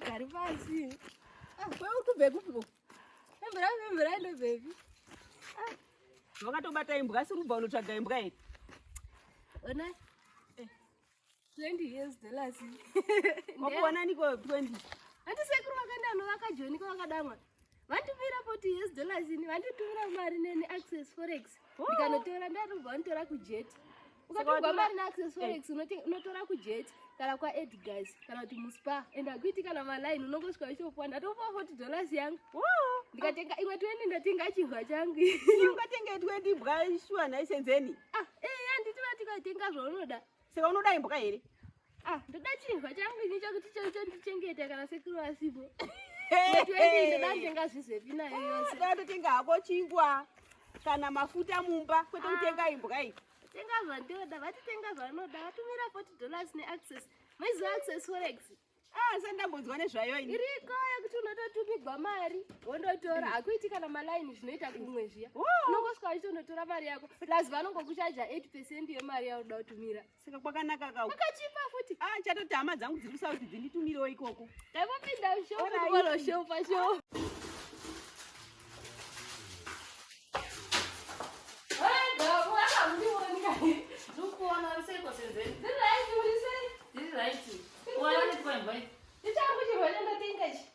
Gari pasi. Ah, wewe utubve kupi bo? Embra, embra ndo baby. Ah. Wakatobata imbwa asi rubva unotsvaga imbwa here? Ona. Eh. 20 years the last. Wakuona niko 20. Ati sekuru vakaenda no vakajoni ko vakadamwa. Vandipira 40 years the last ini vanditumira mari neni access forex. Oh. Ndikanotora ndarubva vanditora kujet. ukatogwa mari naaccess forex eh. unotora kujet kana kwaedgars kana kuti muspa and akuiti kana maline unongosvika uchiopuwa ndatopuwa 40 dollars yangu ndikatenga imwe 20 ndatenga chihwa changu ungatenga 20 bwa shuwa nhaisenzeni ah, eh, anditi vatikatenga zvaunoda saka unoda imbwa here Ah, ndoda chinhu changu ini chakuti chaicho ndichengeta kana sekuru vasipo. Ndoda ndenga zvizepi nayo yose. Ndoda totenga hako chingwa kana mafuta mumba kwete ah. kutenga imbwa iyi. Tenga zvandoda, vatitenga zvanoda, vatumira 40 dollars neaccess. Maiziva access forex. Ah, sasa ndambonzwa nezvayo ini. Iriko yekuti unototumigwa mari, wondotora. Mm. Hakuiti kana maline zvinoita kumwe zviya. Unongosvika uchitonotora mari yako. Plus vanongokuchaja 8% yemari yaunoda kutumira. Saka kwakanaka ka. Ukachipa futi. Ah, chatoti hama dzangu dziri kusauti dzinditumirawo ikoko. Ndakupinda show, ndakupinda show pa show. Ndichakuchirwa nenda tingachi.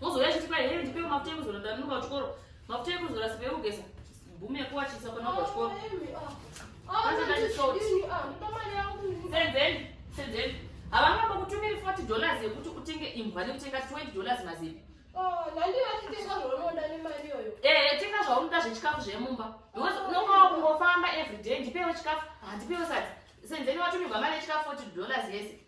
Mozouya achiti kwai here ndipewo mafuta ekuzora ndanonoka kuchikoro. Mafuta ekuzora sipo yekugeza. Bhumu yekuwachisa kona kwa chikoro. Senzeni, senzeni. Havanga vakutumira 40 dollars yekuti utenge imbwa nekutenga 20 dollars mazivi. Oh, eh, tenga zvaunoda zvechikafu zvemumba because unonga wakungofamba everyday ndipewo chikafu handipewo sati senzeni watumirwa mari yechikafu 40 dollars yese